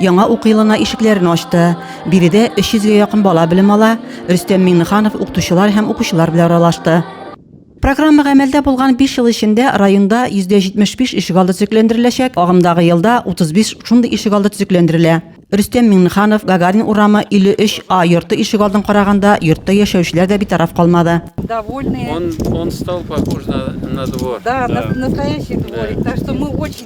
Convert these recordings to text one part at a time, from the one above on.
Яңа уку елына ишекләрен ачты. Биредә 300 гә якын бала белем ала, Рөстәм Миңнеханов укытучылар һәм укучылар белән аралашты. Программа гамәлдә булган биш ел эчендә районда 75 ишегалды төзекләндереләчәк, агымдагы елда 35 шундый ишегалды төзекләндерелә. Рөстәм Миңнеханов, Гагарин урамы, 53 А йорты ишегалдын караганда, йортта яшәүчеләр дә битараф калмады. Довольные. Он он стал похож на на двор. Да, на настоящий дворик, так что мы очень.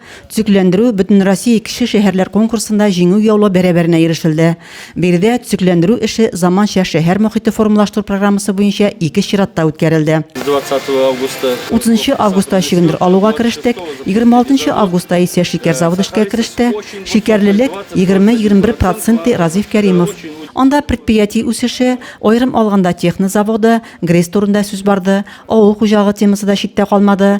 Төзекләндерү Бөтенроссия кече шәһәрләр конкурсында җиңү яулау бәрабәренә ирешелде. Биредә төзекләндерү эше заманча шәһәр мохите формалаштыру программасы буенча ике чиратта үткәрелде. 30 августта чөгендер алуга керештек, 26 августта исә шикәр заводы эшкә кереште. Шикәрлелек, 20-21 процент, ди Разиф Кәримов. Анда предприятие үсеше, аерым алганда техно заводы, ГРЭС турында сүз барды. Авыл хуҗалыгы темасы да читтә калмады.